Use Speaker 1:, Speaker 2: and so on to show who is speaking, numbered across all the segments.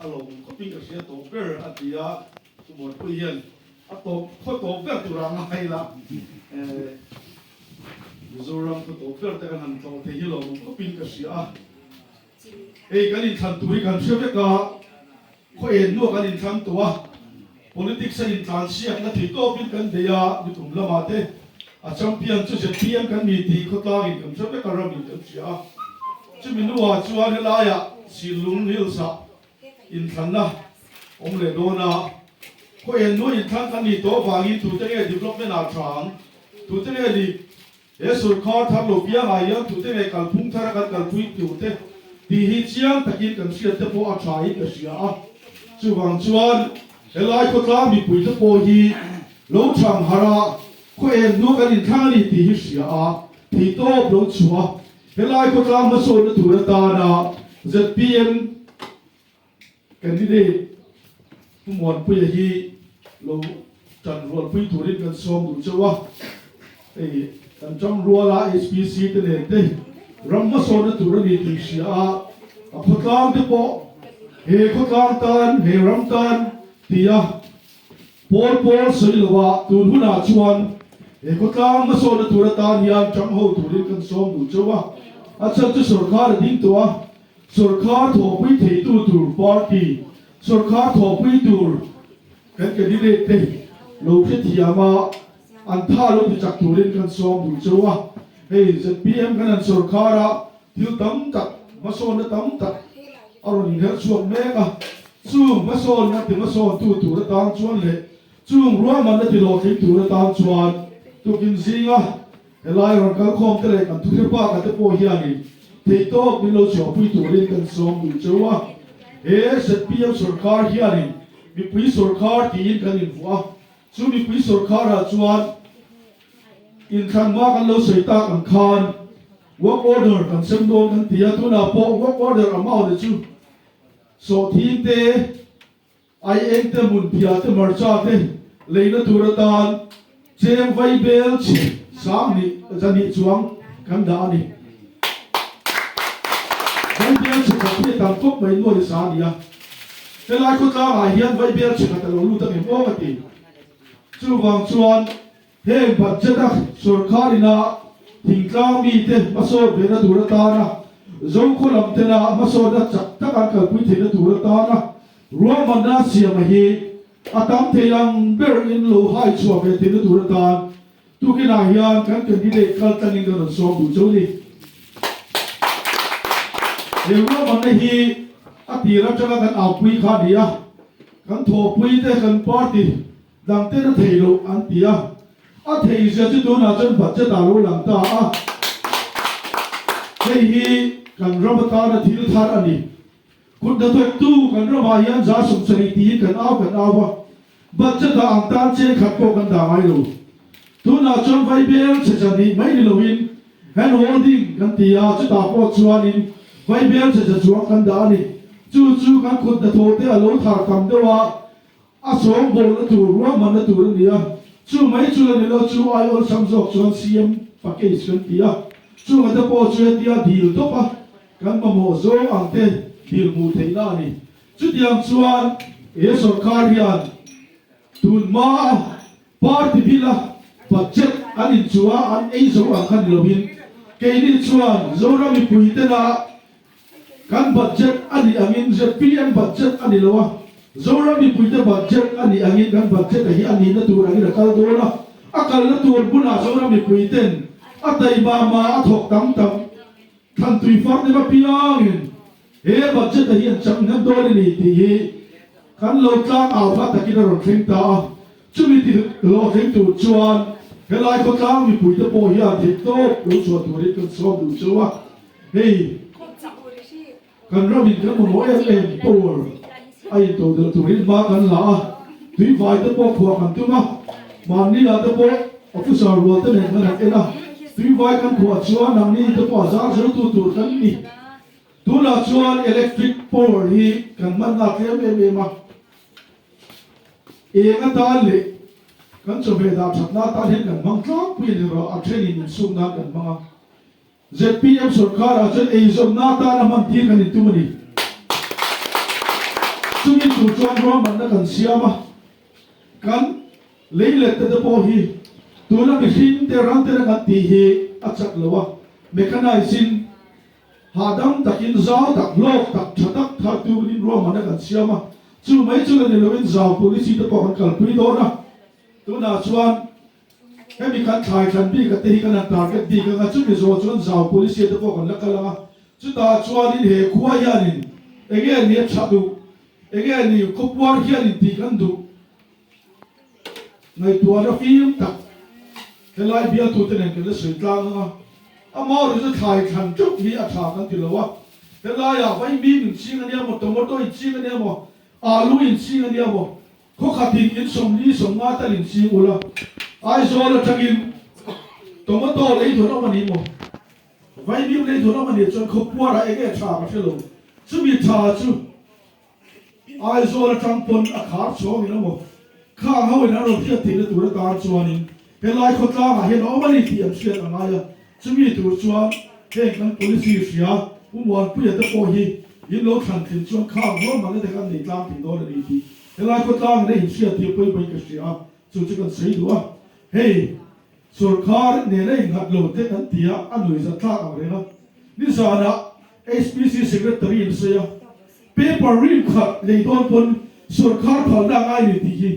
Speaker 1: A lo awm khawpin ka hria tawh ber a ti a, chu Buatpuii hian a tawp khaw tawp ber tur a ngai la. Mizoram khaw tawp ber te kan han tlawh thei hi lo awm khawpin ka hria a, hei kan inthlan tur hi kan hria vek a, khaw en nu a kan inthlang tawh a. Politics a intlansiak na tih tawpin kan bei a, lutum lama te a champion chu zpm kan ni tih khawtlangin kan hre vek a ram in kan hria a. Chumi hnuah chuan helaiah Sinlung Hills ah inthlanna awm leh dawn a, khaw en nuai inthlan an ni tawh vangin tute nge development ah a tha ang, tute nge lip Jesuh kha tharlo bialah hian tute nge kalphung thara kan kalpui tur te tih hi chiang takin kan hriat te pawh a thain ka hria a. Chuvang chuan helai khawtlang mipui te pawh hi lo chhang hara khuaen hnu kan inthlang a ni tih hi hria a, thih tawp lo chhuah a. Helai khawtlang hmasawtna tur atana zpm Candidate hmuanpuia hi lo tan rualpui turin kan sawm duh chauh a, hei kan ṭang ruala HPC te nen te ram hmasawn na tur a ni tih hria a, a khawtlang te pawh he khawtlang tan, he ram tan ti a, pawl pawl sawi lo a, tun hunah chuan he khawtlang hmasawn na tur atan hian ṭang ho turin kan sawm duh chauh a, a chhan chu sorkar a ding tawh a. Sawrkar thawhpui theitu tur party, sawrkar thawhpui tur kan candidate te lo hrethiam a, an tha lo ti chak turin kan sawm bul cho a. Hei zpm kan han sawrkar ah thil tam tak, hmasawnna tam tak a rawn inher chhuak mek a. Chung hmasawnna ti hmasawntu tur atan chuan leh chung ruahmanna ti hlawhtling tur atan chuan tukin zing a. Helai rawn kal khawm te leh kan thuthleng paka te pawh hianin theitawp min lo chhuahpui turin kan sawm duh cho a, he zpm sawrkar hianin mipui sawrkar tiin kan invuah a, chu mipui sawrkarah chuan inthlan hma kan lo sawi tak ang khan work order kan sem dawn kan ti a, tunah pawh work order a mau leh chu sawhthingte, Ai engte mun piate marcha te leina tur atan cheng vai bel chhe sang nih zahnih chuang kan dah a ni. Vai bel chhe khat hi a tam khawp mai nuaih sa a ni a. Helai khawtlang ah hian vai bel chhe khat a lo lut ang em awk a ti. Chuvang chuan. Heng budget a sorkar ina thingtlang mite hmasawt vena tur atana, zokhua lam tena hmasawtna chak tak an kalpui theihna tur atana ruahmanna siama hi a tam thei ang ber in lo hai chhuah ve theihna tur atan tukinah hian kan candidate kaltlangin kan rawn sawm duh cho ni. He ruahmanna hi a tir atanga kan aupui kha a ni a, kan thawhpuite kan party Dangte ka thei lo an ti a, a thei zia chu tunah chuan vat che ta lo lang ta a. Hei hi kan ram atana thil thar a ni. Kut hna thawktu kan ramah hian za sum sarih tiin kan au kan au a, vat che ta ang tan che khat pawh kan dah ngai lo. Tunah chuan vai bel che che nih mai ni loin hand holding kan ti a, chutah pawh chuanin vai bel che che chuang kan dah a ni. Chu chu kan kut hna thawkte a lo thar tam deuh a, A sawm bawl a tur, ruahman a tur a ni a. Chu mai chu la ni lo, chu a ai awlsam zawk chuan siam pa case kan ti a. Chunga te pawh chu hetia dil tawp a, kan mamawh zawng ang te dil hmuh theih na a ni. Chutiang chuan he sawrkar hian tun hmaa party bila budget an inchua an ei zo ang kha ni loin, keini chuan Zoram mipui tena Kan budget a nih angin zpm budget a ni lo a, Zoram mipuite budget a nih angin kan budget a hi a nihna tur angin a kal dawn a. A kalna tur bulah Zoram mipuite'n a taih mah mah a thawk tam tak thlan tui far dim apiangin he budget a hi an changnghan dawn a ni tih hi kan lo tlang au hla takin a rawn thleng ta a. Chumi tih lawh tling tur chuan helai khawtlang mipui te pawh hian dik tawp lo chhuah turin kan sawm duh cho a, hei kan ram in kan mamawh em em tur a intoh del turin hma kan la a, tui vai te pawh khuah kan tum a, mahni lah te pawh a fusa rual te nen kan han en a, tui vai kan khuah chuan nang ni te pawh a zar zo tu tur kan ni, tunah chuan electric power hi kan hmanna tlem em em a. Eng atan leh kan chawhmeh dah thatna atan hian kan hmang tlangpui a ni rua, a thenin insuk nan kan hmang a. Zpm sawrkar ah chuan eizawmna atan a hman tir kan intum a ni. Chumi tur chuan ruahmanna kan siam a, kan lei lette te pawh hi tuna mihring te rang te rangah tih hi a chak lo a, mechanizing Hahdam takin zau tak, lawk tak, tha tak thartu in ruahmanna kan siam a, chu mai chu la ni loin zau pui ni chite pawh kan kalpui dawn a. Tunah chuan hemi kan thlai thlan bika te hi kan han target bik anga, chumi zawh chuan zau pui ni chite pawh kan la kal ang a. Chutah chuanin he khua hianin enge a ni a tha duh, enge a ni khawpuar hianin tih kan duh. Ngaihtuahna fim tak helai bialtute nen kan la sawi tlang ang a, a mau erawh chu thlai thlan teuh hi a tha kan ti lo a, helaiah vaimim inching a nia maw, tomato inching a nia maw, alu inching a nia maw, khawkhatin insawmli sawmnga tal inching ula, Aizawl atangin tomato lei dawn awm a nih maw, vaimim lei dawn awm a nih chuan khawpuara enge tha ka hre lo, chumi tha chu. Aizawl atang pawn a khar chuang in emaw khang ho in an rawn hriat theihna tur a tan chuanin helai khawtlangah hian a awm a ni tih an hriat a ngai a. Chumi tur chuan heng kan policy hria U Muanpuia te pawh hi in lo thlan thleng chuan khang ho man a dek an nei tlang thei dawn a ni tih helai khawtlangin a inhriat hi a pawi mai ka hria a, chu chu kan sawi duh a. Hei. Sorkar nen a innghat lo teh kan tia a nuih zat tlak ang reng a. Nizanah HPC Secretary an sawi a, Paper rim khat lei dawn pawn sorkar phalna a ngai leh tih hi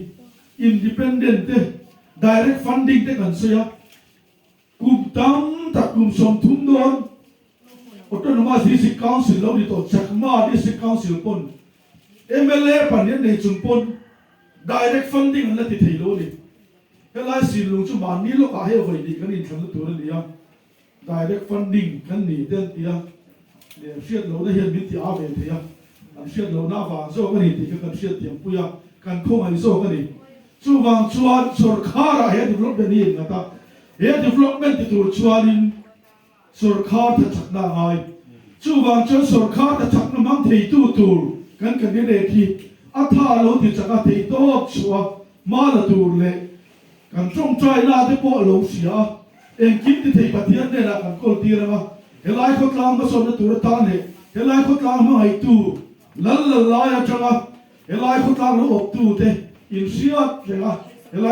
Speaker 1: independent te, direct funding te kan sawi a, kum tam tak kum sawm thum dawn Autonomous District Council lo ni tawh Chakma District Council pawn mla pahnih an nei chung pawn direct funding an la ti thei lo a ni. Helai sinlung chu mahni lawkah hei vawi tih kan inthlan na tur a ni a, direct funding kan ni te an ti a, leh hriat lohna hian min ti a ve thei a, an hriat lohna avang zawk a ni tih kha kan hriat tiangpui a, kan khawngaih zawk a ni. Chuvang chuan sawrkharah he development hi a inngata, he development ti tur chuanin, sawrkar tha chakna a ngai. Chuvang chuan sawrkar tha chakna hmang theitu tur kan kan i rek hi a tha lo ti chaka thei tawp chhuah a, hma la tur leh kan tawngtaina te pawh a lo sia a, engkim ti thei Pathian hnenah kan kawl tir ang a, helai khawtlang hmasawnna tur atan leh helai khawtlang hmangaihtu lal lal lai atanga helai khawtlang lo awptute inhriat thleng a, helai.